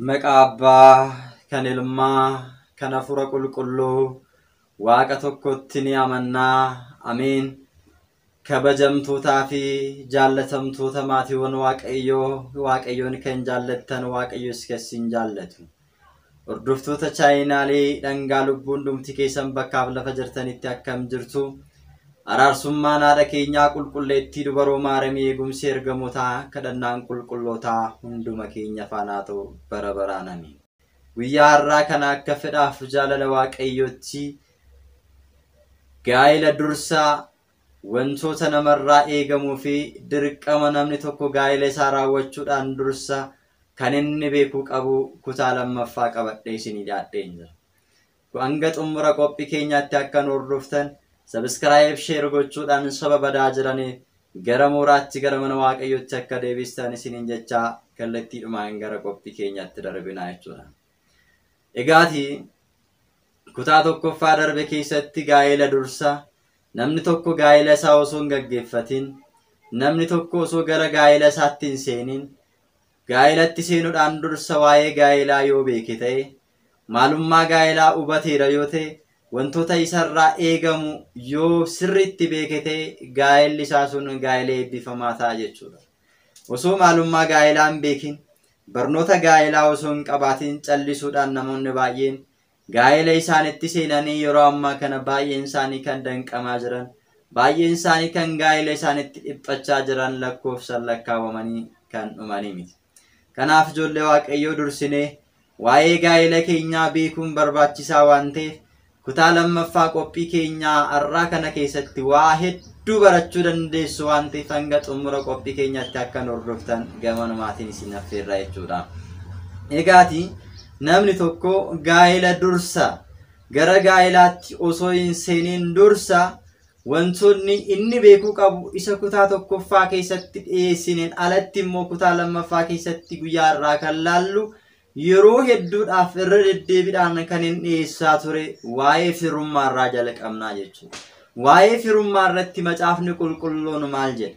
Maqaa Abbaa, kan Ilmaa, kan Hafuura Qulqulluu, Waaqa tokkotti ni amanna. Ameen. Kabajamtootaa fi jaallatamtoota maatiiwwan Waaqayyoo, Waaqayyoon kan jaallattan Waaqayyos kan isin jaallatu. Hordoftoota chaayinaalee dhangaa lubbuu hundumti keessan bakkaaf lafa jirtanitti akkam jirtu araarsummaan haadha keenyaa qulqulleettii dubaroo maaramii eegumsi ergamotaa kadhannaan qulqullootaa hunduma keenya faanaa ta'u bara baraan amiin. Guyyaa har'aa kana akka fedhaaf jaalala waaqayyootti gaa'ela dursa Wantoota namarraa eegamuu fi dirqama namni tokko gaa'ila isaa raawwachuudhaan dursa kan inni beekuu qabu kutaa lammaffaa qabadhee isinii dhiyaadheen jira. Ku hanga xummura qophii keenyaatti akka nu hordoftan subscribe share gochuudhaan soba badaa jiranii gara mooraatti gara mana waaqayyootti akka deebistan isiniin jechaa kallattiidhumaan gara qophii keenyaatti darbinaa jechuudha. Egaati kutaa tokkoffaa darbe keessatti gaa'ela dursa namni tokko gaa'ela isaa osoo hin gaggeeffatin namni tokko osoo gara gaa'ela isaatti hin seenin gaa'elatti seenuudhaan dursa waa'ee gaa'elaa yoo beeke ta'e maalummaa gaa'elaa hubateera yoo ta'e wantoota isarraa eegamu yoo sirriitti beeke ta'e gaa'elli isaa sun gaa'ela eebbifamaa ta'a jechuudha. Osoo maalummaa gaa'elaa hin beekin, barnoota gaa'elaa osoo hin qabaatin callisuudhaan namoonni baay'een gaa'ela isaanitti seenanii yeroo ammaa kana baay'een isaanii kan danqamaa jiran, baay'een isaanii kan gaa'ela isaanitti dhiphachaa jiran lakkoofsan lakkaawamanii kan dhumanii miti. Kanaaf ijoollee Waaqayyoo dursinee Waa'ee gaa'ela keenyaa beekuun barbaachisaa waan ta'eef kutaa lammaffaa qophii keenyaa har'aa kana keessatti waa hedduu barachuu dandeessu waan ta'eef hanga xumura qophii keenyaatti akka nu hordoftan gamanumaatiin isin affeerraa jechuudha. Egaati namni tokko gaa'ela dursa gara gaa'elaatti osoo hin seeniin dursa Wantoonni inni beekuu qabu isa kutaa tokkoffaa keessatti dhiyeessineen alatti immoo kutaa lammaffaa keessatti guyyaa irraa kan laallu yeroo hedduudhaaf irra deddeebiidhaan kan hin dhiyeessaa ture waa'ee firummaa irraa jalqabnaa jechuudha. Waa'ee firummaa irratti macaafni qulqulluun maal jedha?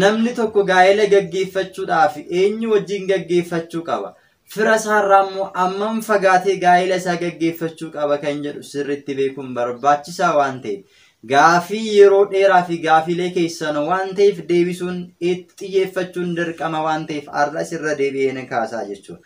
Namni tokko gaa'ela gaggeeffachuudhaaf eenyu wajjin gaggeeffachuu qaba? Fira isaarraa immoo ammam fagaatee gaa'ila isaa gaggeeffachuu qaba kan jedhu sirriitti beekuun barbaachisaa waan ta'eef gaafii yeroo dheeraa fi gaafiilee keessan waan ta'eef deebisuun itti xiyyeeffachuun dirqama waan ta'eef har'as irra deebi'ee ni kaasaa jechuudha.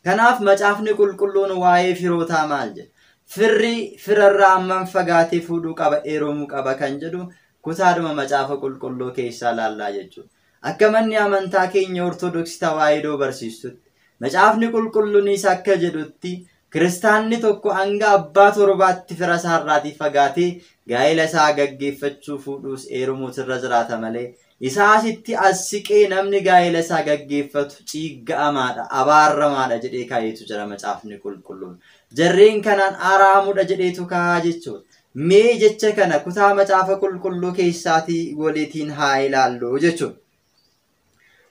Kanaaf macaafni qulqulluun waa'ee firootaa maal jedha? Firri firarraa ammam fagaatee fuudhuu qaba, heerumuu qaba kan jedhu kutaadhuma macaafa qulqulluu keessaa laallaa jechuudha. Akka manni amantaa keenya Ortodoksi Tawaahidoo barsiistutti, Macaafni Qulqullunis akka jedhutti kiristaanni tokko hanga abbaa torbaatti fira isaarraatii fagaatee gaa'ela isaa gaggeeffachuu fuudhuus eerumuus irra jiraata malee isaa asitti as siqee namni gaa'ela isaa gaggeeffatu ciigga'amaadha, abaarramaadha jedhee kaa'eetu jira Macaafni Qulqulluun. Jarreen kanaan araamudha jedheetu kaa'a jechuudha. Mee jecha kana kutaa macaafa qulqulluu keessaatii walitiin haa ilaallu jechuudha.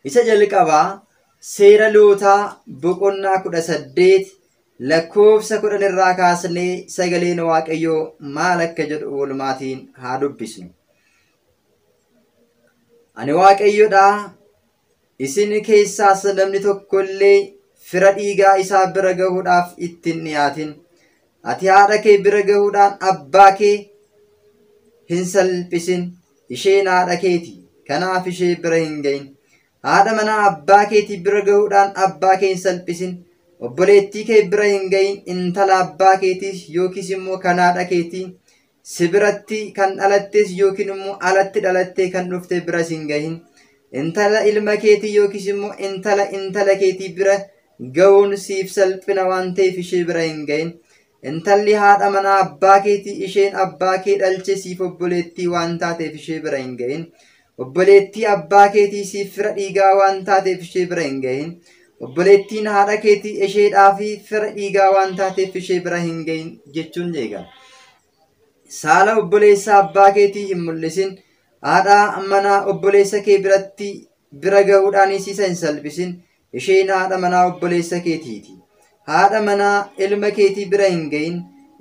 Isa jalqabaa seera lootaa boqonnaa kudha saddeet lakkoofsa kudhan irraa kaasnee sagaleen waaqayyoo maal akka jedhu walumaatiin haa dubbisnu. Ani waaqayyodha Isin keessaas namni tokko illee fira dhiigaa isaa bira gahuudhaaf itti hin dhiyaatin. Ati haadha kee bira gahuudhaan abbaa kee hin salphisin. Isheen haadha keeti. Kanaaf ishee bira hin gahin. Haadha manaa abbaa keetii bira gahuudhaan abbaa kee hin salphisin. Obboleettii kee bira hin gahin. Intala abbaa keetiis yookiis immoo kan haadha keetii Si biratti kan dhalattees yookiin immoo alatti dhalattee kan dhufte biras hin gahin. Intala ilma keetii yookiis immoo intala intala keetii bira gahuun siif salphina waan ta'eef ishee bira hin gahin. Intalli haadha manaa abbaa keetii isheen abbaa kee dhalche siif obboleettii waan taateef ishee bira hin gahin. Obboleettii abbaa keetii siif fira dhiigaa waan taateef ishee bira hin gahin. Obboleettiin haadha keetii isheedhaa fi fira dhiigaa waan taateef ishee bira hin gahin jechuun jeega. Saala obboleessa abbaa keetii hin mul'isin. Haadhaa manaa obboleessa kee biratti bira gahuudhaanis isa hin salphisin. Isheen haadha manaa obboleessa keetii ti. Haadha manaa ilma keetii bira hin ga'in.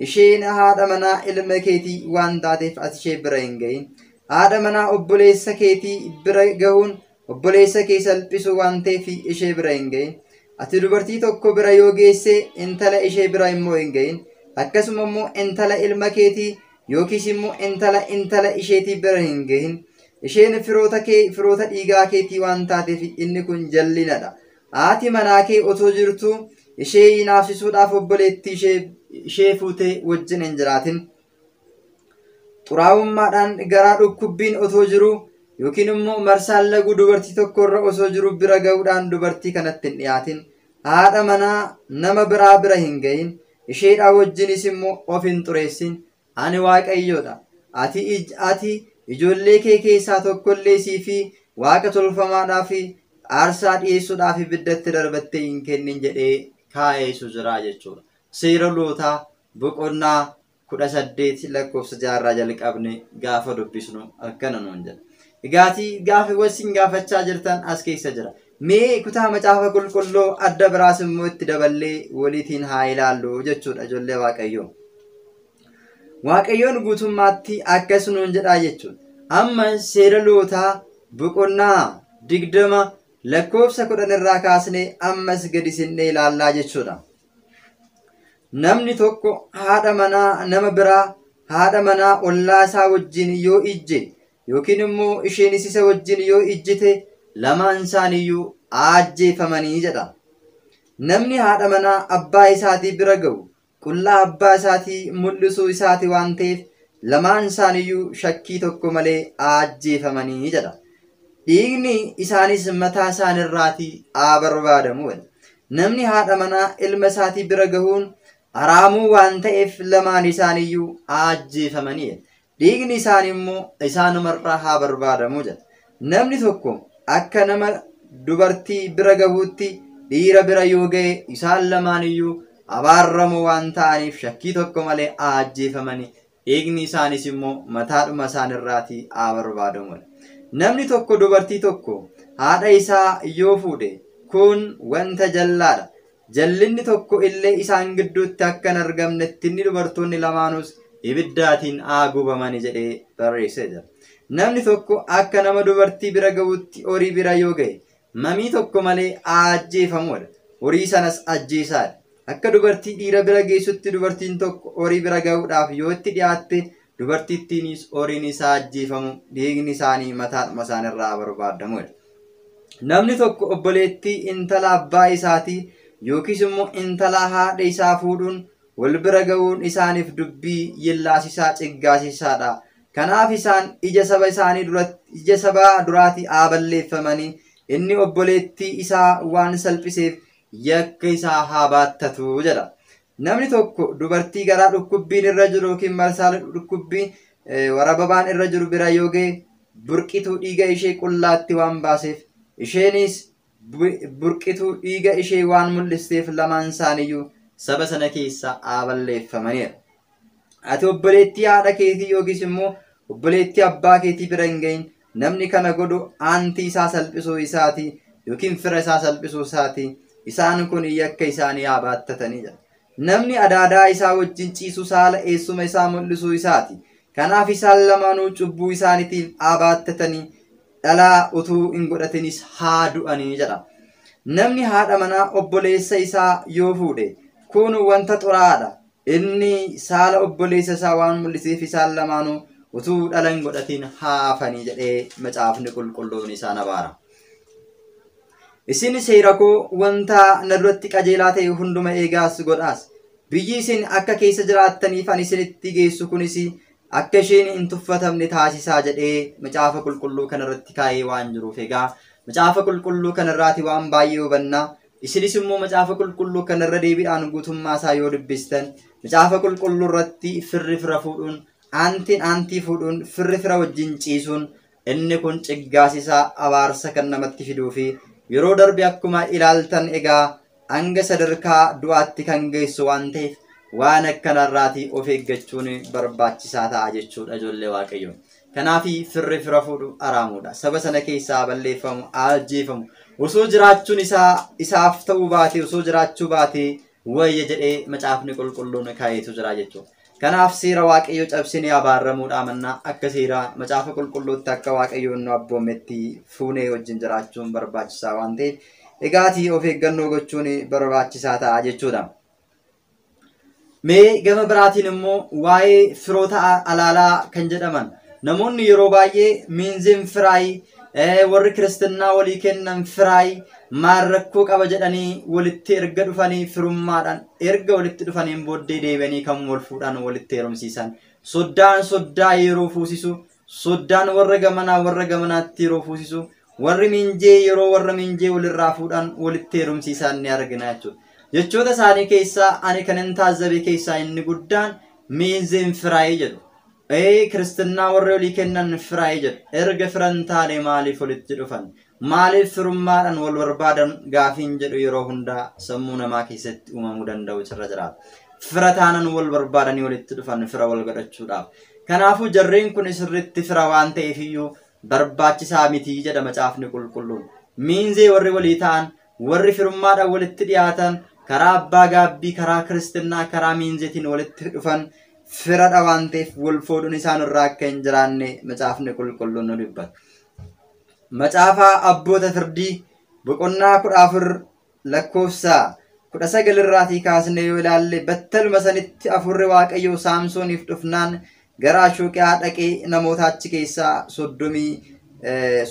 Isheen haadha manaa ilma keetii waan taateef ati ishee bira hin ga'in. Haadha manaa obboleessa keetii bira gahuun obboleessa kee salphisuu waan ta'eef ishee bira hin ga'in. Ati dubartii tokko bira yoo geesse intala ishee bira immoo hin ga'in. Akkasuma immoo intala ilma keetii yookiis immoo intala intala isheetii bira hin gahin isheen firoota kee firoota dhiigaa keetii waan taateef inni kun jallinadha haati manaa kee otoo jirtuu ishee hinaafsisuudhaaf obboleettii ishee ishee fuutee wajjin hin jiraatin xuraa'ummaadhaan garaa dhukkubbiin otoo jiruu yookiin immoo marsaan laguu dubartii tokko irra osoo jiru bira ga'uudhaan dubartii kanatti hin dhiyaatin haadha manaa nama biraa bira hin gahin Isheedhaa wajjinis immoo of hin xureessin. Ani Waaqayyo dha. Ati, ati, ijoollee kee keessaa tokko illee sii fi waaqa tolfamaadhaaf aarsaa dhiyeessuudhaaf ibiddatti darbattee hin kennin jedhee kaa'ee isu jira jechuudha. Seera lootaa boqonnaa kudha saddeet lakkoofsa jaarraa jalqabne gaafa dubbisnu akkana nuun jedha. Egaatii gaafiiwwan isin gaafachaa jirtan as keessa jira. Mee kutaa macaafa qulqulluu adda biraas immoo itti daballee waliitiin haa ilaallu jechuudha ijoollee waaqayyoo. Waaqayyoon guutummaatti akkas nuun jedhaa jechuudha. Amma seera lootaa boqonnaa digdama lakkoofsa kudhan irraa kaasnee ammas gadi sinnee ilaallaa jechuudha. Namni tokko haadha manaa nama biraa haadha manaa ollaa isaa wajjin yoo ijje yookiin immoo isheenis isa wajjin yoo ijjite lamaan isaaniiyyuu aajjeefamanii jedha. Namni haadha manaa abbaa isaatii bira ga'u qullaa abbaa isaatii mul'isuu isaati waan ta'eef lamaan isaaniiyyuu shakkii tokko malee aajjeefamanii jedha. Dhiigni isaanis mataa isaanirraatii haa barbaadamu jedha. Namni haadha manaa ilma isaatii bira gahuun haraamuu waan ta'eef lamaan isaaniiyyuu aajjeefamanii jedha. dhiigni isaanii immoo isaanuma irraa haa barbaadamu jedha. Namni tokko akka nama dubartii bira gahuutti dhiira bira yoo ga'e isaan lamaan iyyuu abaarramoo waan ta'aniif shakkii tokko malee haa ajjeefamanii dhiigni isaaniis immoo mataadhuma isaan irraatii haa barbaadamu jedha. Namni tokko dubartii tokko haadha isaa yoo fuudhe kun wanta jallaadha. Jallinni tokko illee isaan gidduutti akka hin argamnetti inni dubartoonni lamaanuus ibiddaatiin haa gubamani jedhee barreessee jira. Namni tokko akka nama dubartii bira ga'uutti horii bira yoo ga'e mamii tokko malee haa ajjeefamuudha. Horii sanas ajjeesaadha. Akka dubartii dhiira bira geessutti dubartiin tokko horii bira ga'uudhaaf yoo itti dhiyaatte dubartittiinis horiin isaa ajjeefamu dhiigni isaanii mataadhuma isaanirraa barbaadamu jedha. Namni tokko obboleettii intala abbaa isaatii yookiis immoo intala haadha isaa fuudhuun wal bira ga'uun isaaniif dubbii yellaasisaa ciggaasisaadha. Kanaaf isaan ija saba isaanii duratti ija sabaa duraatii haa balleeffamanii inni obboleettii isaa waan salphiseef yakka isaa haa baattatu jedha. Namni tokko dubartii garaa dhukkubbiin irra jiru yookiin marsaa dhukkubbii warababaan irra jiru bira yoo ga'e burqituu dhiiga ishee qullaatti waan baaseef isheenis burqituu dhiiga ishee waan mul'isteef lamaan isaaniiyyuu saba sana keessaa haa balleeffamaniiru. Ati obboleettii haadha keetii yookiis immoo obboleettii abbaa keetii bira hin ga'in Namni kana godhu aantii isaa salphisuu isaati yookiin fira isaa salphisuu isaati. Isaan kun yakka isaanii haa baattatanii jedha. Namni adaadaa isaa wajjin ciisu saala eessuma isaa mul'isuu isaati. Kanaaf isaan lamaanuu cubbuu isaaniitiif haa baattatanii dhalaa utuu hin godhatinis haa du'anii jedha. Namni haadha manaa obboleessa isaa yoo fuudhe kun wanta xuraa'aadha. Inni saala obboleessa isaa waan mul'iseef isaan lamaanuu utuu dhala hin godhatiin haa hafanii jedhee macaafni qulqulluun isaan abaara. Isin seera koo wanta na duratti qajeelaa ta'e hunduma eegaas godhaas. Biyyi isin akka keessa jiraattaniif ani isinitti geessu kunis akka isheen hin tuffatamne taasisaa jedhee macaafa qulqulluu kanarratti kaa'ee waan jiruuf egaa macaafa qulqulluu kanarraati waan baay'ee hubanna Isinis immoo macaafa qulqulluu kana irra deebiidhaan guutummaa isaa yoo dubbistan macaafa qulqulluu irratti firri fira fuudhuun aantiin aantii fuudhuun firri fira wajjin ciisuun inni kun ciggaasisaa abaarsa kan namatti fiduu fi yeroo darbe akkuma ilaaltan egaa hanga sadarkaa du'aatti kan geessu waan ta'eef waan akkanarraatii of eeggachuun barbaachisaa ta'a jechuudha ijoollee waaqayyoo. Kanaafi firri fira fuudhu araamuudha. Saba sana keessaa balleeffamu, ajjeefamu. Osoo jiraachuun isaa isaaf ta'uu baatee, osoo jiraachuu baatee wayya jedhee macaafni qulqulluun kaayeetu jira jechuudha. Kanaaf seera waaqayyoo cabsinee abaarramuudhaa mannaa akka seera macaafa qulqulluutti akka waaqayyoon nu abboometti fuunee wajjin jiraachuun barbaachisaa waan ta'eef dhigaatii of eeggannoo gochuun barbaachisaa ta'a jechuudha. Mee gama biraatiin immoo waa'ee firoota alaalaa kan jedhaman namoonni yeroo baay'ee miinziin firaay warri kiristinnaa walii kennan firaay maal rakkoo qaba jedhanii walitti erga dhufanii firummaadhaan erga walitti dhufaniin booddee deebi'anii kan wal fuudhaan walitti heerumsiisan soddaan soddaa yeroo fuusisu Soddaan warra gamanaa warra gamanaatti yeroo fuusisu warri miinjee yeroo warra miinjee walirraa fuudhan walitti heerumsiisaan ni argina jechuudha. Jechoota isaanii keessaa ani kanin taazzabe keessaa inni guddaan miinzeen firaayee jedhu. Ee kiristinnaa warri olii kennan firaayee jedhu. Erga firan taane maaliif walitti dhufan? Maaliif firummaadhaan wal barbaadan gaafiin jedhu yeroo hundaa sammuu namaa keessatti uumamuu danda'u cirra jiraata. Fira taanan wal barbaadanii walitti dhufan fira wal godhachuudhaaf. Kanaafuu jarreen kun sirriitti fira waan ta'eefiyyuu barbaachisaa mitii jedha macaafni qulqulluun. Miinzee warri walii ta'an, warri firummaadhaan walitti dhiyaatan, karaa abbaa gaabbii, karaa kiristinnaa, karaa miinzeetiin walitti dhufan firadha waan ta'eef wal fuudhuun isaan irraa akka hin jiraanne macaafni qulqulluun nu dubbata. Macaafa Abboota Firdii boqonnaa kudha afur lakkoofsa kudha sagal irraatii kaasnee yoo ilaalle battaluma sanitti hafuurri Waaqayyoo Saamsooniif dhufnaan gara Ashuuqiyaa dhaqee namoota achi keessaa soddomii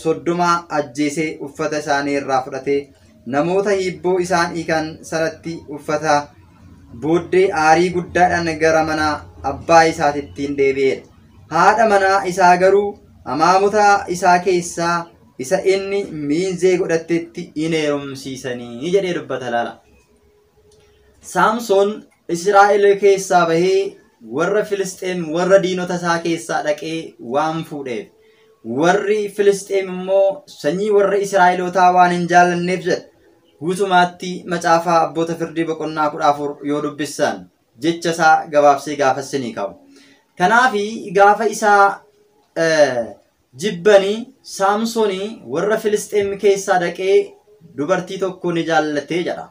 soddoma ajjeesee uffata isaanii irraa fudhatee namoota hiibboo isaan hiikan sanatti uffata booddee aarii guddaadhaan gara mana abbaa isaatittiin deebi'eedha. Haadha manaa isaa garuu amaamota isaa keessaa isa inni miinzee godhattetti in heerumsiisanii jedhee dubbata laala. Saamsoon Israa'el keessaa bahee warra Filisxeem warra diinota isaa keessaa dhaqee waan fuudheef warri Filisxeem immoo sanyii warra Israa'elootaa waan hin jaallanneef jedha. Guutumaatti macaafaa abboota firdii boqonnaa kudha afur yoo dubbissan jecha isaa gabaabsee gaafa isinii ka'u. Kanaaf gaafa isaa jibbanii Saamsoonii warra Filisxeem keessaa dhaqee dubartii tokko ni jaallattee jedha.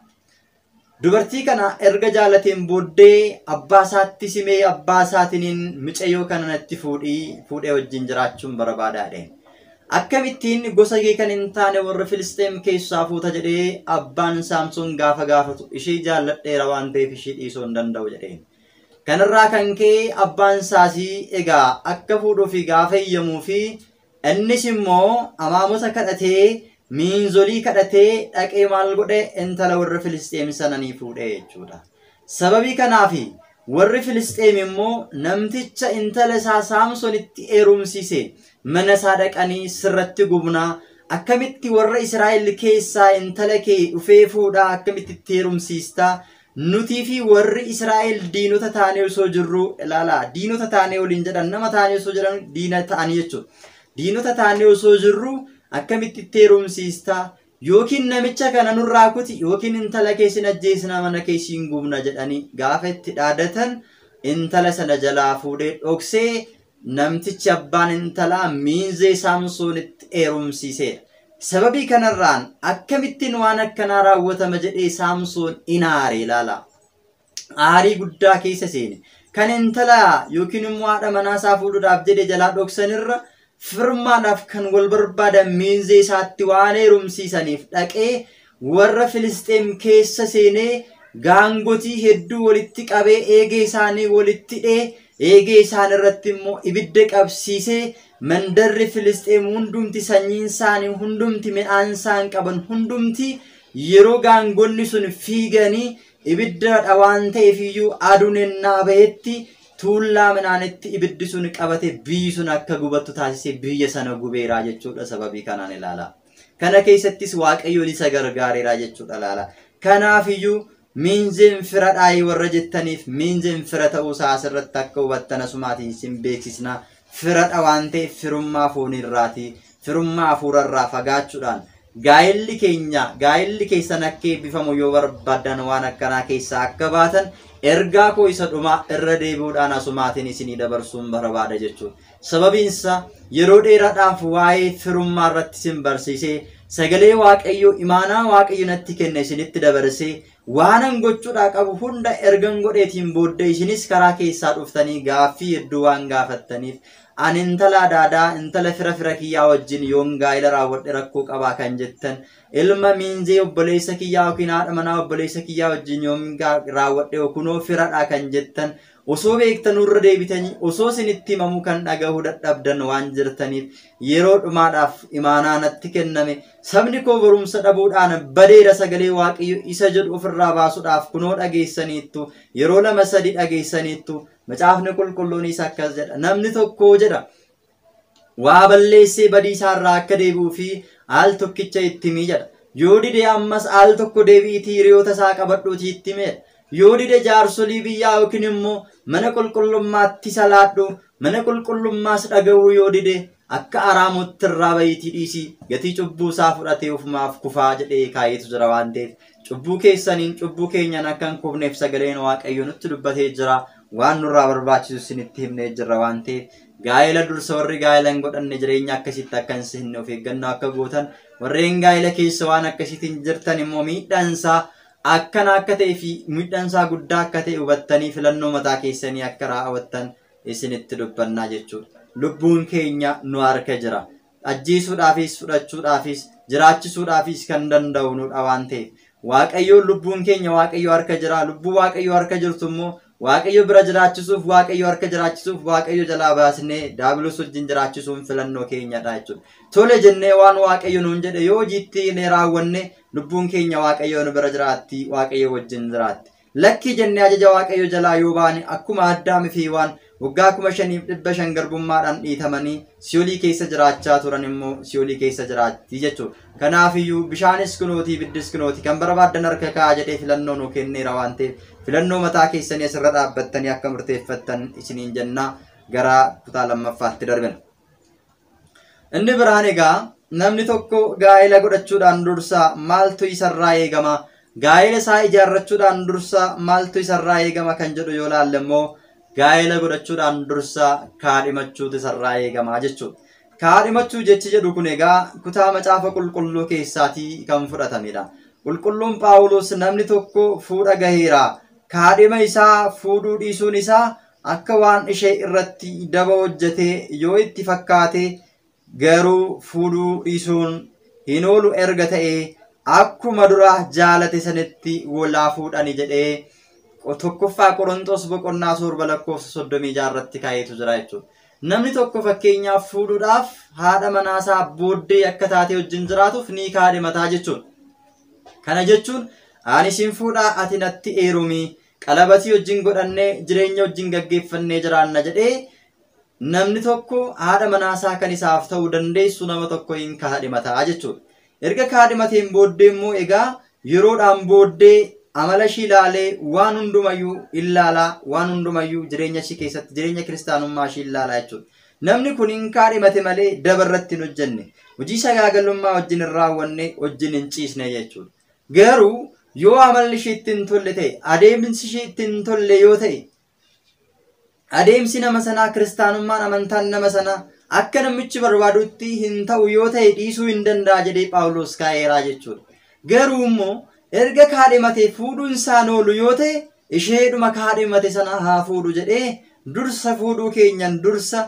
Dubartii kana erga jaalateen booddee abbaa isaatti simee abbaa isaatiniin micayyoo kana natti fuudhii fuudhee wajjin jiraachuun barabaadaa jedheen. Akkamittiin gosa kee kan hin taane warra Filisxeem keessaa fuuta jedhee abbaan Saamsoon gaafa gaafatu ishee jaalladheera waan ta'eef ishee dhiisuu hin danda'u jedheen. Kanarraa kan ka'e abbaan isaasii egaa akka fuudhuufi gaafa eeyyamuu fi Innis immoo amaamota kadhatee, miinzolii kadhatee dhaqee maal godhe intala warra Filisxeem sana ni fuudhe jechuudha. Sababii kanaaf warri Filisxeem immoo namticha intala isaa Saamsonitti heerumsiise mana isaa dhaqanii sirratti gubnaa akkamitti warra Israa'el keessaa intala kee dhufee fuudhaa akkamitti itti heerumsiistaa Nutii fi warri Israa'el diinota taanee osoo jirruu ilaalaa diinota taanee waliin jedhan nama taanee osoo jedhan diina ta'anii jechuudha. Diinota taanee osoo jirruu akkamitti itti heerumsiista yookiin namicha kana nurraa kuti yookiin intala kee sin ajjeesina mana kee siin gubna jedhanii gaafa itti dhaadatan intala sana jalaa fuudhee dhoksee namtichi abbaan intalaa miinzee Saamsoonitti eerumsiiseedha. Sababii kanarraan akkamittiin waan akkanaa raawwatama jedhee Saamsoon in aare ilaala. Aarii guddaa keessa seene. Kan intala yookiin immoo haadha manaa isaa fuudhuudhaaf jedhe jalaa dhoksanirra firmaadhaaf kan wal barbaadan miinzee isaatti waan heerumsiisaniif dhaqee Worra Filisxeem keessa seenee gaangotii hedduu wolitti qabee eegee isaanii wolitti hidhee eegee isaan irratti immoo ibidda qabsiisee mandarri Filisxeem hundumti sanyiin isaanii hundumti midhaan isaan qaban hundumti yeroo gaangonni sun fiiganii ibiddaadha waan ta'eef iyyuu aduun ennaa bahetti tuullaa midhaanitti ibiddi sun qabate biyyi sun akka gubattu taasisee biyya sana gubeeraa jechuudha sababii kanaan ilaalaa. Kana keessattis Waaqayyoon isa gargaareera jechuudha laala. Kanaafiyyuu miinzeen fira dhaayii warra jettaniif miinzeen fira ta'uusaa asirratti akka hubattan asumaatiin sin beeksisna. Firadha waan ta'eef firummaa fooniirraatii firummaa hafuurarraa fagaachuudhaan gaa'elli keenya gaa'elli keessan akka eebbifamu yoo barbaadan waan akkanaa keessaa akka baatan ergaa koo isa dhumaa irra deebi'uudhaan asumaatiin isinii dabarsuun barbaada jechuudha. Sababiinsaa yeroo dheeraadhaaf waa'ee firummaa irratti isin barsiisee, sagalee Waaqayyoo imaanaa Waaqayyo natti kenne isinitti dabarsee, waanan gochuudhaa qabu hunda ergan godheetiin booddee isinis karaa keessaa dhuftanii gaaffii hedduu waan gaafattaniif ani intala adaadaa intala fira fira kiyyaa wajjin yoon gaa'ila raawwadhe rakkoo qabaa kan jettan ilma miinzee obboleessa kiyyaa yookiin haadha manaa obboleessa kiyyaa wajjin yoon gaa- raawwadhe kunoo firadhaa kan jettan Osoo beektanu irra deebitanii osoo isinitti himamuu kan dhagahuu dadhabdan waan jirtaniif yeroo dhumaadhaaf imaanaa natti kenname sabni koo barumsa dhabuudhaan badeera sagalee waaqayyo isa jedhu ofirraa baasuudhaaf kunoo dhageessaniittu yeroo lama sadi dhageessaniittu macaafni qulqulluunis akkas jedha namni tokko jedha waa balleessee badii isaa irraa akka deebi'uu fi al tokkicha itti himi jedha. Yoo dide ammas al tokko deebi'iitii hiriyoota isaa qabadhuutii itti himi jedha. Yoo dide jaarsolii biyyaa yookiin immoo mana qulqullummaatti salaadhu mana qulqullummaas dhaga'uu yoo dide akka araamutti irraa bahiitii dhiisii gatii cubbuu isaa fudhatee ofumaaf kufaa jedhee kaa'eetu jira waan ta'eef cubbuu keessaniin cubbuu keenyaan akka hin kufneef sagaleen waaqayyo nutti dubbatee jira waan nurraa barbaachisu isinitti himnee jirra waan ta'eef Gaa'ela dursa warri gaa'ela hin godhanne jireenya akkasitti akka hin seenne of eeggannoo akka gootan warreen gaa'ela keessa waan akkasiitiin jirtan immoo miidhaansaa akkana akka ta'e fi miidhaansaa guddaa akka ta'e hubattanii filannoo mataa keessanii akka raawwattan isinitti dubbannaa jechuudha. Lubbuun keenya nu harka jira. ajjeesuudhaafis fudhachuudhaafis jiraachisuudhaafis kan danda'u nudha waan ta'eef waaqayyoon lubbuun keenya waaqayyo harka jira lubbuu waaqayyo harka jirtu immoo waaqayyo bira jiraachisuuf waaqayyo harka jiraachisuuf waaqayyo jalaa baasnee daabilos wajjin jiraachisuun filannoo keenyadha jechuudha. Tole jennee waan waaqayyo nuun jedhe yoo hojiitti hiiknee raawwanne lubbuun keenya waaqayyo nu bira jiraatti waaqayyo wajjin jiraatti. Lakkii jennee ajaja Waaqayyo jalaa yoo baane akkuma Addaam fi Hiwaan waggaa kuma shaniif dhibba shan garbummaadhaan dhiitamanii si'olii keessa jiraachaa turan immoo si'olii keessa jiraatti jechuudha. Kanaafiyyuu bishaanis kunooti ibiddis kunooti kan barbaaddan harka kaa'aa jedhee filannoo nuu kenneera waan ta'eef filannoo mataa keessanii asirra dhaabbattanii akka murteeffattan isiniin jennaa gara kutaa lammaffaatti darbina. Inni biraan egaa namni tokko gaa'ela godhachuudhaan dursa maaltu isarraa eegama? Gaa'ela isaa ijaarrachuudhaan dursa maaltu isarraa eegama kan jedhu yoo laalle immoo gaa'ela godhachuudhaan dursa kaadhimachuutu isarraa eegama jechuudha. Kaadhimachuu jechi jedhu kun egaa kutaa macaafa qulqulluu keessaatii kan fudhatamedha. Qulqulluun Phaawulos namni tokko fuudha gaheera. Kaadhima isaa fuudhuu dhiisuun isaa Akka waan ishee irratti daba hojjete yoo itti fakkaate garuu fuudhuu dhiisuun hin oolu erga ta'e akkuma dura jaalate sanitti wal haa fuudhani jedhee tokkoffaa Qoronxoos boqonnaa torba lakkoofsa soddomii ja'a irratti kaa'eetu jira jechuudha. Namni tokko fakkeenyaaf fuudhuudhaaf haadha manaasaa booddee akka taatee wajjin jiraatuuf ni kaadhimataa jechuudha. Kana jechuun ani sin fuudhaa ati natti eerumi qalabatii wajjin godhannee jireenya wajjin gaggeeffannee jiraanna jedhee namni tokko haadha manaasaa kan isaaf ta'uu dandeessu nama tokko hin kaadhimataa jechuudha. Erga kaadhimateen booddee immoo egaa yeroodhaan booddee amala ishii ilaalee waan hundumayyuu ilaalaa waan hundumayyuu jireenya ishii keessatti jireenya kiristaanummaa ishii ilaalaa jechuudha. Namni kun hin kaadhimate malee daba irratti hin hojjenne. Hojii sagaagalummaa wajjin hin raawwanne wajjin hin ciisne jechuudha. Garuu yoo amalli ishee itti hin tolle ta'e, adeemsi ishee itti hin tolle yoo ta'e, adeemsi nama sanaa kiristaanummaan amantaan nama sanaa akka namichi barbaadutti hin ta'u yoo ta'e dhiisuu hin danda'a jedhee Phaawulos kaa'eeraa jechuudha. Garuu immoo erga kaadhimatee fuudhuun isaan oolu yoo ta'e isheedhuma kaadhimate sana haa fuudhu jedhee dursa fuudhuu keenyan dursa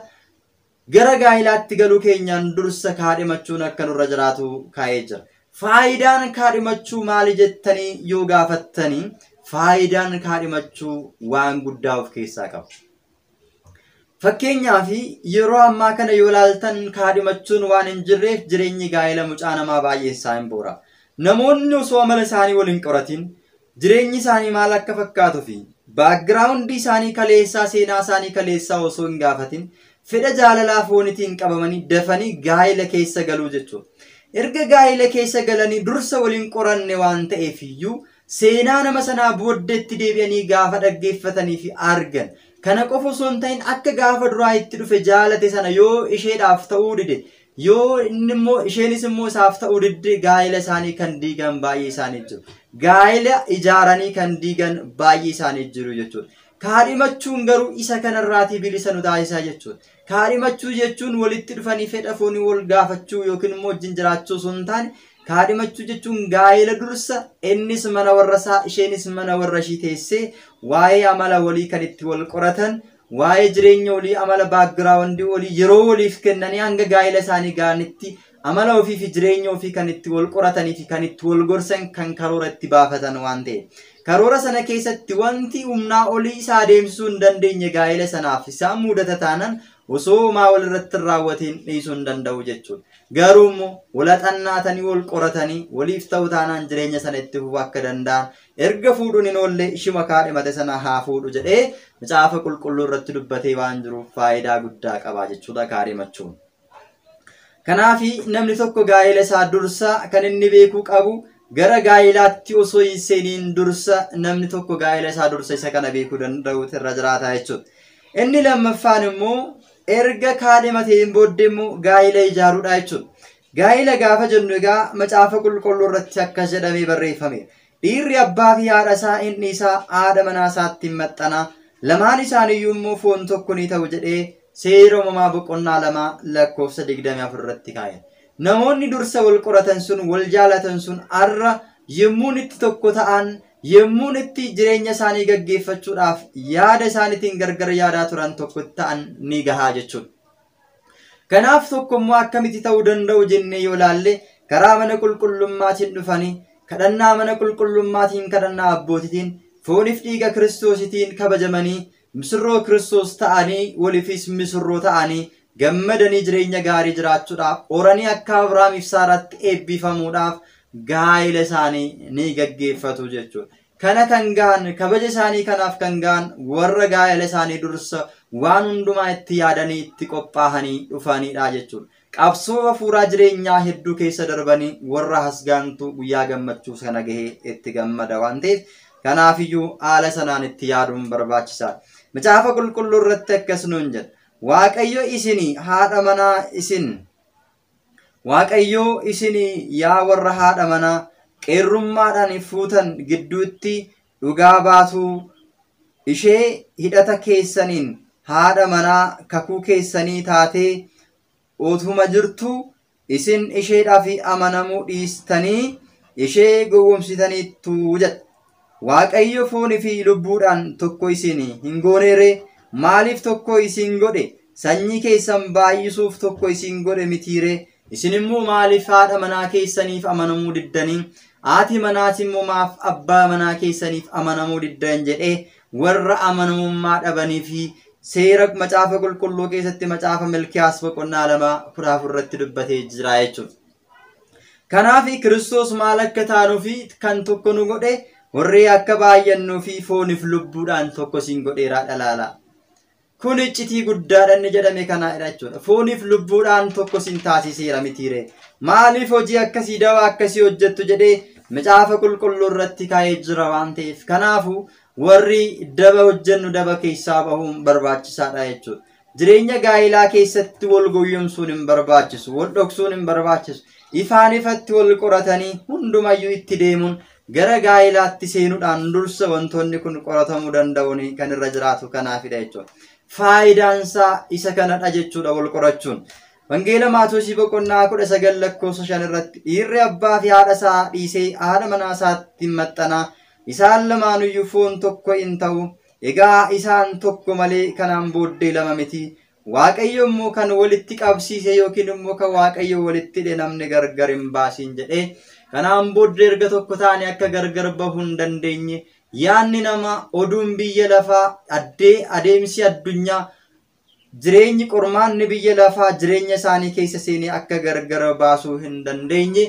Gara gaa'ilaatti galuu keenyaan dursa kaadhimachuun akka nurra jiraatu kaa'ee jira. Faayidaan kaadhimachuu maali jettanii yoo gaafattanii faayidaan kaadhimachuu waan guddaa of keessaa qaba. Fakkeenyaaf yeroo ammaa kana yoo laaltan kaadhimachuun waan hin jirreef jireenyi gaa'ela mucaa namaa baay'een isaa hin boora. Namoonni osoo amala isaanii wal hin qoratin Jireenyi isaanii maal akka fakkaatu fi background isaanii kaleessaa seenaa isaanii kaleessaa osoo hin gaafatin fedha jaalalaa foonitiin qabamanii dafanii gaa'ila keessa galuu jechuudha. Erga gaa'ila keessa galanii dursa waliin qoranne waan ta'eef iyyuu seenaa nama sanaa booddeetti deebi'anii gaafa dhaggeeffatanii fi argan kana qofa osoo hin ta'in akka gaafa duraa itti dhufe jaalate sana yoo isheedhaaf ta'uu dide Yoo inni immoo isheenis immoo isaaf ta'uu didde gaa'ela isaanii kan diigan baay'ee isaanii jiru. Gaa'ela ijaaranii kan diigan baay'ee isaanii jiru jechuudha. Kaadhimachuun garuu isa kanarraatii bilisa nu taasisaa jechuudha. Kaadhimachuu jechuun walitti dhufanii fedha foonii wal gaafachuu yookiin immoo wajjin jiraachuu osoo hin taane kaadhimachuu jechuun gaa'ela dursa innis mana warra isaa isheenis mana warra ishii teessee waa'ee amala walii kan itti wal qoratan Waa'ee jireenya olii amala background olii yeroo waliif kennanii hanga gaa'ila isaanii ga'anitti amala ofii fi jireenya ofii kan itti wal qoratanii fi kan itti wal gorsan kan karoora itti baafatan waan ta'e. Karoora sana keessatti wanti humnaa olii isa adeemsisuu hin dandeenye gaa'ila sanaaf isaan muudata taanan osoo homaa wal irratti hin raawwatiin dhiisuu hin danda'u jechuudha. Garuu immoo wal haxannaatanii wal qoratanii waliif ta'u taanaan jireenya sana itti fufuu akka danda'an Erga fuudhuun hin oolle ishuma kaadhimate sana haa fuudhu jedhee macaafa qulqulluu irratti dubbatee waan jiruuf faayidaa guddaa qaba jechuudha kaadhimachuun. Kanaaf namni tokko gaa'ela isaa dursa kan inni beekuu qabu gara gaa'elaatti osoo hin seeniin dursa namni tokko gaa'ela isaa dursa isa kana beekuu danda'uutu irra jiraata jechuudha. Inni lammaffaan immoo erga kaadhimateen booddee immoo gaa'ela ijaaruudha jechuudha. Gaa'ila gaafa jennu egaa macaafa qulqulluu irratti akkas jedhamee barreeffameera. Dhiirri abbaa fi haadha isaa in dhiisaa haadha manaa isaatti hin maxxanaa lamaan isaaniiyyuu immoo foon tokko ni ta'u jedhee seera uumamaa boqonnaa lama lakkoofsa 24 irratti kaa'e. Namoonni dursa wal qoratan sun wal jaalatan sun har'a yemmuun itti tokko ta'an yemmuun itti jireenya isaanii gaggeeffachuudhaaf yaada isaaniitiin gargar yaadaa turan tokko ta'an ni gahaa jechuudha. Kanaaf tokko immoo akkamitti ta'uu danda'u jennee yoo laalle karaa mana qulqullummaatiin dhufanii kadhannaa mana qulqullummaatiin kadhannaa abbootitiin foonif dhiiga kiristoositiin kabajamanii misirroo kiristoos ta'anii waliifis misirroo ta'anii gammadanii jireenya gaarii jiraachuudhaaf horanii akka Abrahaamiif Saaraatti eebbifamuudhaaf gaa'ila isaanii ni gaggeeffatu jechuudha. Kana kan gahan, kabaja isaanii kanaaf kan gahan warra gaa'ela isaanii dursa waan hundumaa itti yaadanii itti qophaahanii dhufanidha jechuudha. Qabsoo hafuuraa jireenyaa hedduu keessa darbanii warra hasgaantuu guyyaa gammachuu sana gahee itti gammada waan ta'eef kanaafiyyuu haala sanaan itti yaaduun barbaachisaadha. Macaafa qulqulluu irratti akkas nuun jedha. Waaqayyo isin haadha manaa isin Waaqayyoo isin yaa warra haadha manaa qeerrummaadhaan fuutan gidduutti dhugaa baatuu ishee hidhata keessaniin haadha manaa kakuu keessanii taatee utuma jirtuu isin isheedhaaf amanamuu dhiistanii ishee gowwomsitaniittu jedha. Waaqayyo foonii fi lubbuudhaan tokko isin hin gooneeree? Maaliif tokko isin godhe? Sanyii keessan baay'isuuf tokko isin godhe mitiiree? Isin immoo maaliif haadha manaa keessaniif amanamuu diddanii? Haati manaas immoo maaf abbaa manaa keessaniif amanamuu diddan jedhee warra amanamummaa dhabanii fi seera macaafa qulqulluu keessatti macaafa Milkiyaas boqonnaa lama kudha afur irratti dubbatee jira jechuudha. Kanaaf Kiristoos maal akka taanuu fi kan tokko nu godhe warri akka baay'annuu fi fooniif lubbuudhaan tokko siin godheeraa dhalaala. Kun iccitii guddaadha inni jedhame kanaadha jechuudha. Fooniif lubbuudhaan tokko siin taasiseera mitiire. Maaliif hojii akkasii dawaa akkasii hojjettu jedhee macaafa qulqulluu irratti kaa'ee jira waan ta'eef. Kanaafuu warri daba hojjennu daba keessaa bahuun barbaachisaadha jechuudha. Jireenya gaa'ilaa keessatti wal goyyomsuun hin barbaachisu, wal dhoksuun hin barbaachisu. Ifaan ifatti wal qoratanii hundumayyuu itti deemuun gara gaa'ilaatti seenuudhaan dursa wantoonni kun qoratamuu danda'uun kan irra jiraatu kanaafidha jechuudha. Faayidaansaa isa kanadha jechuudha wal qorachuun. Wangeela Maatosii boqonnaa kudha sagal lakkoofsa shan irratti dhiirri abbaa fi haadha isaa dhiisee haadha manaa isaatti hin maxxanaa isaan lamaanuyyuu foon tokko in ta'u Egaa isaan tokko malee kanaan booddee lama miti. Waaqayyo immoo kan walitti qabsiise yookiin immoo kan Waaqayyo walitti hidhe namni gargar hin baasiin jedhee kanaan booddee erga tokko taane akka gargar bahuu hin dandeenye yaanni namaa oduun biyya lafaa addee adeemsi addunyaa jireenyi qormaanni biyya lafaa jireenya isaanii keessa seenee akka gargara baasuu hin dandeenye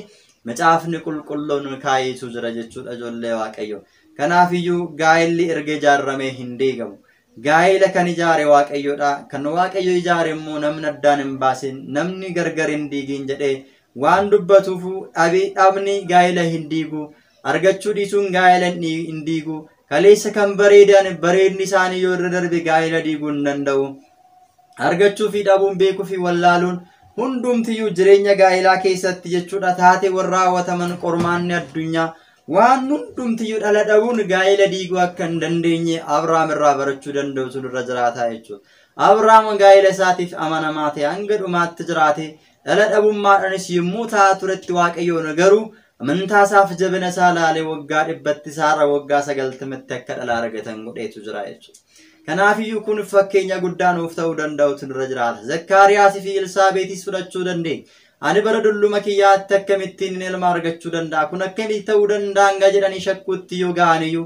macaafni qulqulluun kaayeetu jira jechuudha ijoollee waaqayyo. Kanaaf iyyuu gaa'elli erga ijaarramee hin diigamu. Gaa'ela kan ijaare waaqayyoodha. Kan waaqayyo ijaare immoo namni addaan hin baasin namni gargar hin diigin jedhee waan dubbatuuf dhabni gaa'ela hin diigu. Argachuu dhiisuun gaa'ela hin diigu. Kaleessa kan bareedan bareedni isaanii yoo irra darbe gaa'ela diiguu hin danda'u. Argachuu fi dhabuun beekuu fi wallaaluun hundumtiyyuu jireenya gaa'elaa keessatti jechuudha taateewwan raawwataman qormaanni addunyaa waan hundumtiyyuu dhala dhabuun gaa'ela diiguu akka hin dandeenye Abrahaam irraa barachuu danda'utu irra jiraata jechuudha. Abrahaam gaa'ela isaatiif amanamaa ta'e hanga dhumaatti jiraate dhala dhabummaadhaanis yommuu ta'aa turetti waaqayyoon garuu Amantaa isaaf jabina isaa laalee waggaa dhibbatti isaarra waggaa sagaltamatti akka dhala argatan godheetu jira jechuudha. Kanaafiyyuu kun fakkeenya guddaa nuuf ta'uu danda'utu nurra jiraata. Zakkaariyaasii fi Elsaabeetis fudhachuu dandeenya. Ani bara dulluma kiyyaatti akkamittiin ilma argachuu danda'a? Kun akkamitti ta'uu danda'a? hanga jedhanii shakkuutti yoo ga'aniyyuu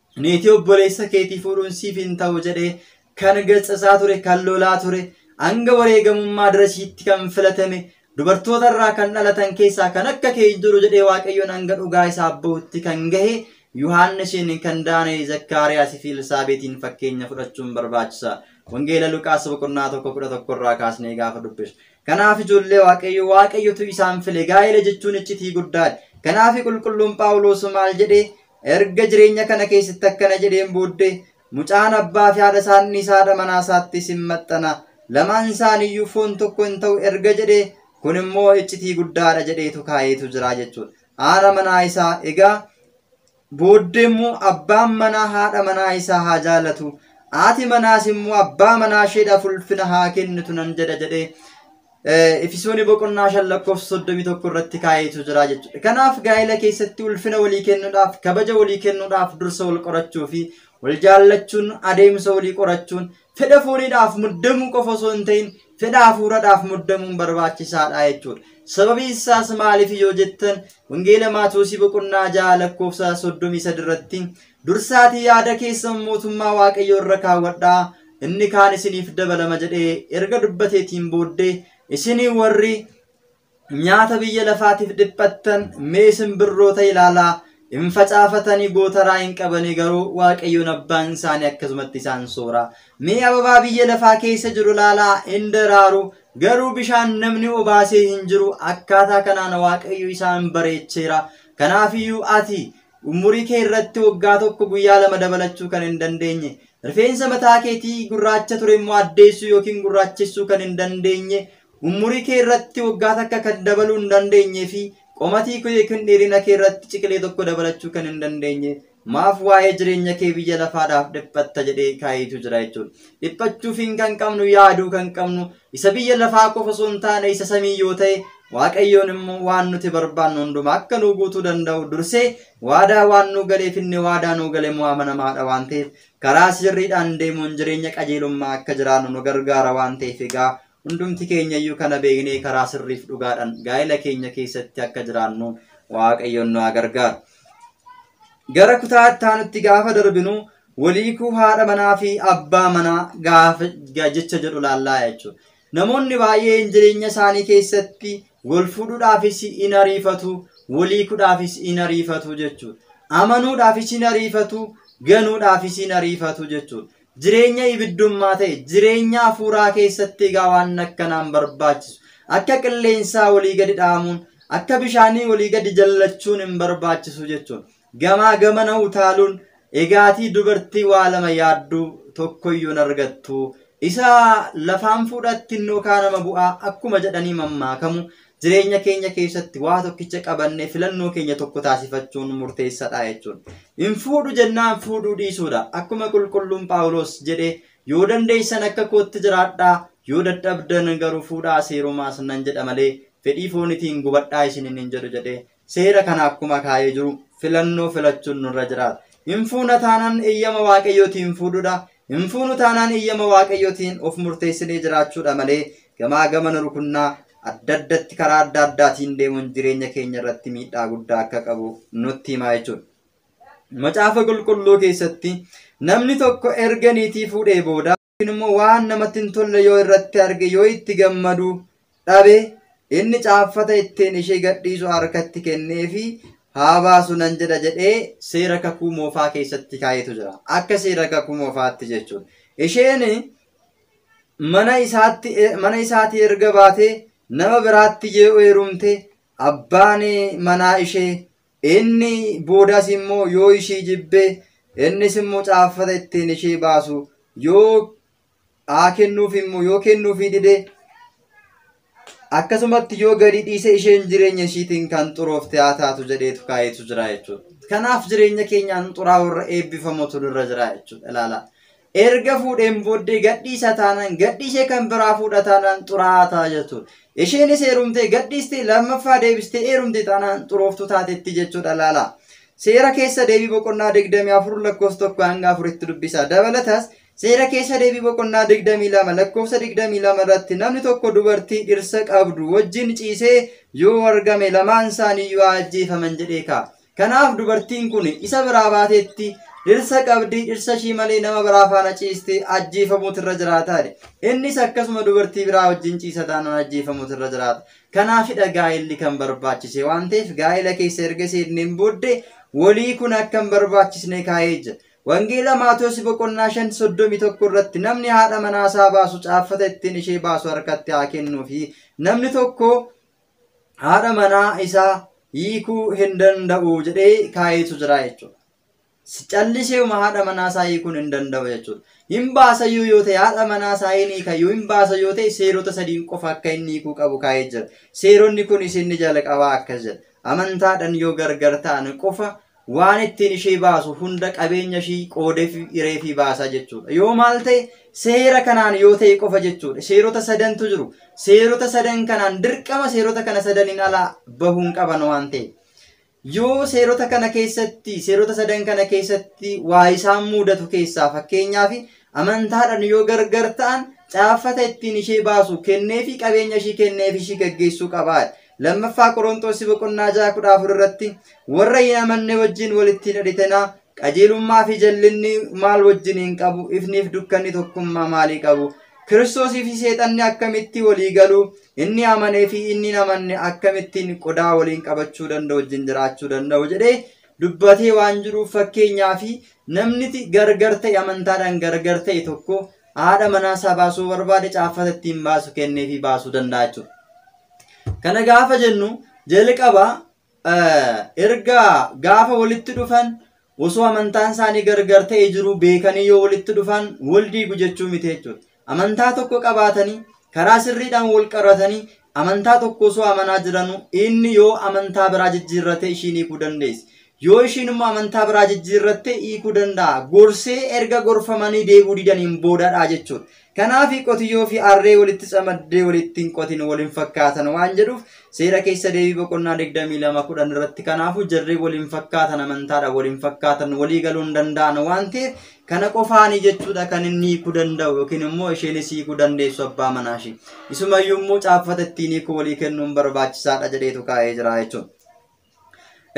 Niitii obboleessa keetii fuudhuun siif hin ta'u jedhee kan gatsasaa ture, kan lolaa ture, hanga wareegamummaa darasiitti kan filatame, dubartoota irraa kan dhalatan keessaa kan akka kee hin jiru jedhee Waaqayyoon hanga dhugaa isaaf ba'utti kan gahe Yohaannisiin, kan Daana'e, Zakkaariyaasii fi Elsaabeetiin fakkeenya fudhachuun barbaachisa. Wangeela Luqaas boqonnaa tokko kudha tokko irraa kaasnee gaafa dubbisnu. Kanaaf ijoollee Waaqayyo Waaqayyotu isaan file gaa'ela jechuun iccitii guddaadha. Kanaaf qulqulluun Phaawulos maal jedhee Erga jireenya kana keessatti akkana jedheen booddee mucaan abbaa fi haadha isaan dhiisaadha manaa isaattis hin maxxana. Lamaan isaaniiyyuu foon tokko hin ta'u erga jedhee kun immoo iccitii guddaadha jedheetu kaa'eetu jira jechuudha. Haadha manaa isaa egaa booddee immoo abbaan manaa haadha manaa isaa haa jaalatu. Haati manaas immoo abbaa manaa isheedhaaf ulfina haa kennitu nan jedha jedhee Efisooni boqonnaa shan lakkoofsa soddomii tokko irratti kaa'eetu jira jechuudha. Kanaaf gaa'ela keessatti ulfina walii kennuudhaaf, kabaja walii kennuudhaaf dursa wal qorachuu fi wal jaallachuun adeemsa walii qorachuun fedha fooniidhaaf muddamuu qofa osoo hin ta'in fedha hafuuradhaaf muddamuun barbaachisaadha jechuudha. Sababiin isaas maaliif yoo jettan wangeela Maatewosii boqonnaa ja'a lakkoofsa soddomii sadi irratti Dursaatii yaada keessan mootummaa Waaqayyoo irra kaawwadhaa, inni kaan isiniif dabalama jedhee erga dubbateetiin booddee isin warri nyaata biyya lafaatiif dhiphattan mee simbirroota ilaalaa hin facaafatanii gootaraa hin qabanii garuu Waaqayyoon abbaan isaanii akkasumatti isaan soora. Mee ababaa biyya lafaa keessa jiru ilaalaa hin daraaru garuu bishaan namni obaasee hin jiru akkaataa kanaan Waaqayyo isaan bareecheera. Kanaafiyyuu ati Umurii kee irratti waggaa tokko guyyaa lama dabalachuu kan hin dandeenye, rifeensa mataa keetii gurraacha ture immoo addeessuu yookiin gurraachessuu kan hin dandeenye, umurii kee irratti waggaa takka kan dabaluu hin dandeenye fi qomatii kee yookiin dheerina kee irratti ciqilee tokko dabalachuu kan hin dandeenye maaf waa'ee jireenya kee biyya lafaadhaaf dhiphatta jedhee kaayiitu jira jechuudha. Dhiphachuufiin kan qabnu yaaduu kan qabnu Isa biyya lafaa qofa osoo hin taane isa samii yoo ta'e Waaqayyoon immoo waan nuti barbaannu hundumaa akka nuu guutuu danda'u dursee waadaa waan nuu galeef inni waadaa nuu gale immoo amanamaadha waan ta'eef karaa sirriidhaan deemuun jireenya qajeelummaa akka jiraannu nu gargaara waan ta'eef egaa hundumti keenya iyyuu kana beeknee karaa sirriif dhugaadhaan gaa'ela keenya keessatti akka jiraannu Waaqayyoon nu haa gargaaru. Gara kutaa itti aanutti gaafa darbinu Wal hiikuu haadha manaa fi abbaa manaa gaafa ga- jecha jedhu laallaa jechuudha. Namoonni baay'een jireenya isaanii keessatti wal fuudhuudhaafis in ariifatu, wal hiikuudhaafis in ariifatu jechuudha. Amanuudhaafis in ariifatu, ganuudhaafis in ariifatu jechuudha. Jireenya ibiddummaa ta'e, jireenya hafuuraa keessatti egaa waan akkanaan barbaachisu. Akka qilleensaa walii gadi dhaamuun, akka bishaanii walii gadi jallachuun hin barbaachisu jechuudha. Gamaa gamana utaaluun egaatii dubartii waa lama yaaddu tokkoyyuu hin argattu. Isa lafaan fuudhatti hin dhookaa nama bu'aa akkuma jedhanii mammaakamu jireenya keenya keessatti waa tokkicha qabannee filannoo keenya tokko taasifachuun murteessadha jechuudha. Hin fuudhu jennaan fuudhuu dhiisuudha. Akkuma qulqulluun Phaawulos jedhe yoo dandeessan akka kootti jiraadhaa yoo dadhabdan garuu fuudhaa seerumaas nan jedha malee fedhii foonitiin gubadhaa isiniin hin jedhu jedhe Seera kana akkuma kaa'ee jiru filannoo filachuun nurra jiraata. Hin fuuna taanaan eeyyama waaqayyootiin fuudhuudha. Hin fuunu taanaan eeyyama waaqayyootiin of murteessinee jiraachuudha malee gamaa gamana rukunnaa adda addatti karaa adda addaatiin deemuun jireenya keenya irratti miidhaa guddaa akka qabu nutti himaa jechuudha. Macaafa qulqulluu keessatti namni tokko erga niitii fuudhee booda yookiin immoo waan namatti hin tolle yoo irratti arge yoo itti gammadu dhabe inni caaffata ittiin ishee gadhiisu harkatti kennee fi haa baasu nan jedha jedhee seera kakuu moofaa keessatti kaa'etu jira. Akka seera kakuu moofaatti jechuudha. Isheen mana isaatti mana isaatii erga baatee nama biraatti yoo heerumte abbaan manaa ishee Inni boodas immoo yoo ishii jibbe innis immoo caaffata ittiin ishii baasu yoo haa kennuuf immoo yoo kennuufii dide akkasumatti yoo gadi dhiise isheen jireenya ishiitiin kan xuroofte haa taatu jedheetu kaayetu jira jechuudha. Kanaaf jireenya keenyaan xuraa'uu irra eebbifamutu nurra jira jechuudha ilaala. Erga fuudheen booddee gadhiisa taanaan gadhiisee kan biraa fuudha taanaan xuraa'aa ta'a jechuudha. Isheenis heerumtee gadhiistee lammaffaa deebistee heerumte taanaan xurooftuu taatetti jechuudha laala. Seera keessa deebii boqonnaa 24 lakkoofsa 1 hanga 4tti dubbisa. Dabalatas seera keessa deebii boqonnaa 22 lakkoofsa 22 irratti namni tokko dubartii dhirsa qabdu wajjin ciisee yoo argame lamaan isaanii yoo ajjeefaman jedhee ka'a. Kanaaf dubartiin kun isa biraa baateetti, dhirsa qabdi, dhirsa ishii malee nama biraa faana ciiste ajjeefamuutu irra jiraata jedhe. Innis akkasuma dubartii biraa wajjin ciisa taanaan ajjeefamuutu irra jiraata. Kanaafidha gaa'elli kan barbaachise waan ta'eef gaa'ela keessa erga seenneen booddee walii kun akka hin barbaachisne kaa'ee jira. Wangeela Maatoosi boqonnaa 5 31 irratti namni haadha manaa isaa baasu caaffata ittiin ishee baasu harkatti haa kennuu fi namni tokko haadha manaa isaa hiikuu hin danda'u jedhee kaayeetu jira jechuudha. Callisee uma haadha manaa isaa hiikuun hin danda'u jechuudha. Hin baasayyuu yoo ta'e haadha manaa isaa hin hiikayyuu hin baasa yoo ta'e seerota sadiin qofa akka inni hiikuu qabu kaa'ee jira. Seeronni kunis inni jalqabaa akkas jedha. Amantaadhaan yoo gargar ta'an qofa waan ittiin ishee baasu hunda qabeenya ishii qoodeefi hireefii baasaa jechuudha. Yoo maal ta'e seera kanaan yoo ta'e qofa jechuudha. Seerota sadantu jiru. Seerota sadan kanaan dirqama seerota kana sadaniin alaa bahuun qaban waan ta'e. Yoo seerota kana keessatti seerota sadan kana keessatti waa isaan muudatu keessaa fakkeenyaaf Amantaadhaan yoo gargar ta'an caaffata ittiin ishee baasu kenneefii qabeenya ishii kenneef ishii gaggeessuu qaba. Lammaffaa Qoronxoos boqonnaa 6 14 irratti warra hin amanne wajjin walitti hin hidhatinaa qajeelummaa fi jallinni maal wajjin hin qabu ifniif dukkanni tokkummaa maalii qabu Kiristoosii fi seexanni akkamitti walii galu inni amanee fi inni hin amanne akkamittiin qodaa waliin qabachuu danda'u wajjin jiraachuu danda'u jedhee dubbatee waan jiruuf fakkeenyaa fi namniti gargar ta'e amantaadhaan gargar ta'e tokko haadha manaa isaa baasuu barbaade caaffata ittiin baasu kennee fi baasuu danda'a jechuudha. Kana gaafa jennu jalqaba erga gaafa walitti dhufan osoo amantaan isaanii gargar ta'e jiru beekanii yoo walitti dhufan wal diigu jechuu miti jechuudha. amantaa tokko qabaatanii karaa sirriidhaan wal qaratanii amantaa tokko osoo amanaa jiranuu inni yoo amantaa biraa jijjiirrate ishiin hiikuu dandeessi. Yoo ishiin immoo amantaa biraa jijjiirratte hiikuu danda'a. Gorsee erga gorfamanii deebuu didaniin boodadha jechuudha. Kanaaf qotiyyoo fi harree walitti camaddee walitti hin qotin wal hin fakkaatan waan jedhuuf seera keessa deebii boqonnaa 22 10 irratti kanaafuu jarri wal hin fakkaatan amantaadha wal hin fakkaatan walii galuu hin danda'an waan ta'eef Kana qofaani jechuudha kan inni hiikuu danda'u yookiin immoo isheenis hiikuu dandeessu abbaa manaa ishee. Isumayyuu immoo caaffata ittiin hiikuu walii kennuun barbaachisaadha jedheetu kaa'ee jira jechuudha.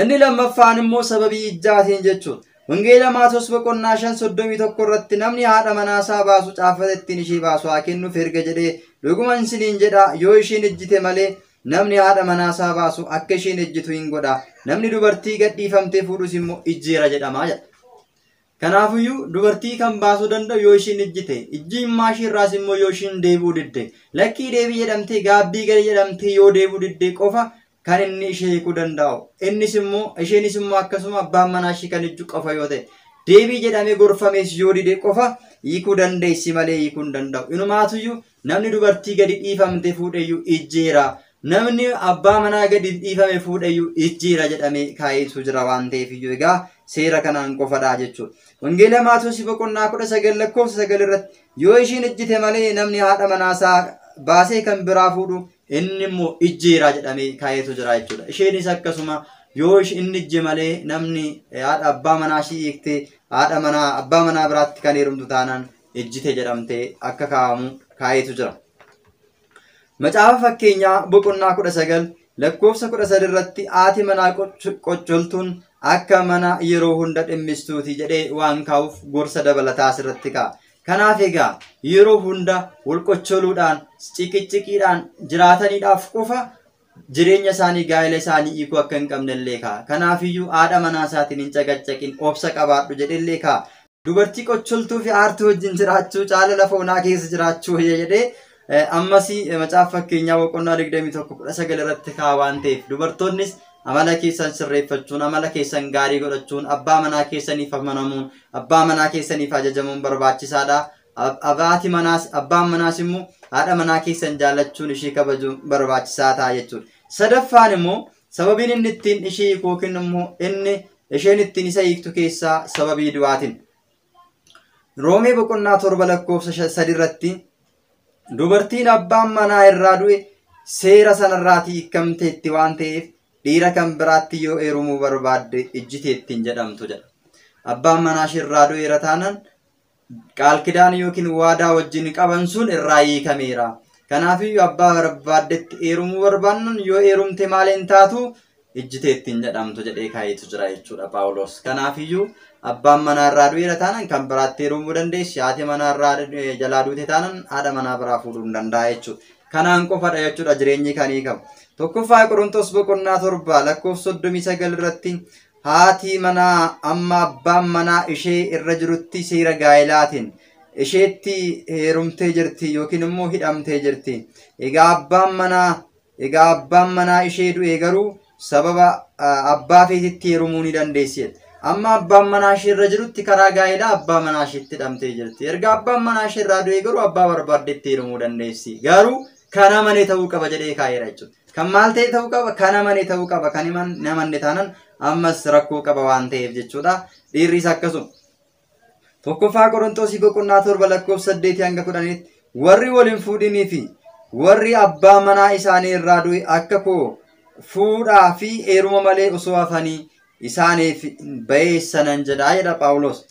Inni lammaffaan immoo sababii ijjaatiin jechuudha. Wangeela Maatoos boqonnaa shan soddomii tokko irratti namni haadha manaasaa baasu caaffata ittiin ishee baasu haa kennuuf erga jedhee dhuguman isiniin jedha yoo isheen ejjite malee namni haadha manaasaa baasu akka isheen ejjitu hin godha namni dubartii gadhiifamtee fuudhus immoo ijjeera jedhama jedha. Kanaafuyyuu, dubartii kan baasuu danda'u yoo ishiin ijjite, ijjimmaa ishii irraas immoo yoo ishiin deebi'uu didde, lakkii deebii jedhamtee gaabbii gali jedhamtee yoo deebi'uu didde qofa kan inni ishee hiikuu danda'u. Innis immoo, isheenis immoo akkasuma abbaan manaa ishii kan ijju qofa yoo ta'e, deebii jedhamee gorfamees yoo dide qofa hiikuu dandeessi malee hiikuu hin danda'u. Inumaatuyyuu Namni dubartii gadi dhiifamte fuudheyyu ijjiira. Namni abbaa manaa gadi dhiifame fuudheyyu ijjiira jedhamee kaa'eetu jira waan ta'eef iyyuu egaa seera kanaan qofadha jechuudha. Wangeela Maatoosi boqonnaa kudha sagal lakkoofsa sagal irratti yoo ishiin ijjite malee namni haadha manaasaa baasee kan biraa fuudhu inni immoo ijjiira jedhamee kaa'eetu jira jechuudha. Isheenis akkasuma yoo inni ijje malee namni haadha abbaa manaa ishii hiiktee haadha manaa abbaa manaa biraatti kan heerumtu taanaan ejjite jedhamtee akka kaa'amu kaa'eetu jira. Macaafa fakkeenyaa boqonnaa kudha sagal lakkoofsa kudha sadi irratti haati manaa qoccoltuun akka mana yeroo hunda dhimmistuuti jedhee waan kaa'uuf gorsa dabalataa asirratti kaa'a. Kanaaf egaa yeroo hunda wal qoccoluudhaan ciqicciqiidhaan jiraataniidhaaf qofa jireenya isaanii gaa'ela isaanii hiikuu akka hin qabne illee kaa'a. Kanaafiyyuu haadha manaa isaatiin hin caqacaqin obsa qabaadhu jedhe illee kaa'a. Dubartii qocholtuu fi aartuu wajjin jiraachuu caala lafa onaa keessa jiraachuu wayya jedhee eh, ammas eh, macaafa fakkeenyaa boqonnaa 21 19 irratti kaa waan ta'eef dubartoonnis amala keessan sirreeffachuun amala keessan gaarii godhachuun abbaa manaa keessaniif amanamuun abbaa manaa keessaniif ajajamuun barbaachisaadha. Ab- Abaati manaas abbaan manaas immoo haadha manaa keessan jaallachuun ishii kabajuun barbaachisaa ta'a jechuudha. Sadaffaan immoo Sababiin inni ittiin ishii hiiku yookiin immoo inni isheen ittiin isa hiiktu keessaa sababii du'aatiin. Roomee boqonnaa torba lakkoofsa sadi irratti dubartiin abbaan manaa irraa du'e seera sanarraatii hiikamteetti waan ta'eef dhiira kan biraatti yoo heerumuu barbaadde ijjiteettiin jedhamtu jedha. Abbaan manaa ishee irraa du'eera taanaan qaalkidaanii yookiin waadaa wajjin qaban sun irraa hiikameera. Kanaafiyyuu abbaa barbaaddetti eerumuu barbaannan yoo eerumte maaliin taatu ijjitee ittiin jedhamtu jedhee kaayetu jira jechuudha Paawuloos. Kanaafiyyuu abbaan manaa irraa du'eera taanan kan biraatti eerumuu dandeessi. Haati manaa irraa jalaa duute taanan haadha manaa biraa fuudhuu hin danda'a jechuudha. Kanaan qofadha jechuudha jireenyi kan hiikamu. Tokkoffaa Qorontos boqonnaa torba lakkoofsa soddomii sagal irratti Haatii manaa amma abbaan manaa ishee irra jirutti seera gaa'elaatiin isheetti heerumtee jirti yookiin immoo hidhamtee jirti. Egaa abbaan manaa egaa abbaan manaa ishee du'e garuu sababa abbaa feetitti heerumuu ni dandeessi. Amma abbaan manaa ishee irra jirutti karaa gaa'elaa abbaa manaa isheetti hidhamtee jirti. Erga abbaan manaa ishee irraa du'e garuu abbaa barbaaddetti heerumuu dandeessi. Garuu kan amane ta'uu qaba jedhee kaa'eera jechuudha. Kan maal ta'e ta'uu qaba? Kan amane ta'uu qaba. Kan himan namanne taanan ammas rakkoo qaba waan ta'eef jechuudha. Dhiirris akkasuma. Tokkoffaa Qorontosii boqonnaa torba lakkoofsa saddeetii hanga kudhaniitti warri wal hin fuudhinii fi warri abbaa manaa isaanii irraa du'e akka koo fuudhaa fi heeruma malee osoo hafanii isaaniif bayeessa nan jedhaa jedha Phaawulos.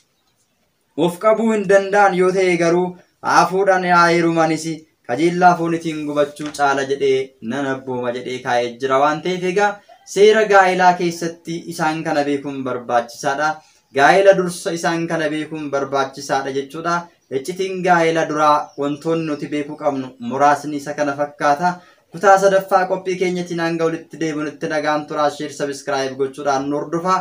Of qabuu hin danda'an yoo ta'e garuu haa fuudhan haa heerumanis kajeellaa foonitiin gubachuu caala jedhee nan abbooma jedhee kaa'ee jira waan ta'eef egaa seera gaa'elaa keessatti isaan kana beekuun barbaachisaadha. Gaa'ela dursa isaan kana beekuun barbaachisaadha jechuudha. Iccitiin gaa'ela duraa wantoonni nuti beekuu qabnu muraasni isa kana fakkaata. Kutaa sadaffaa qophii keenyatiin hanga walitti deebinutti nagaan turaa sheer sabiskiraayib gochuudhaan nu hordofaa.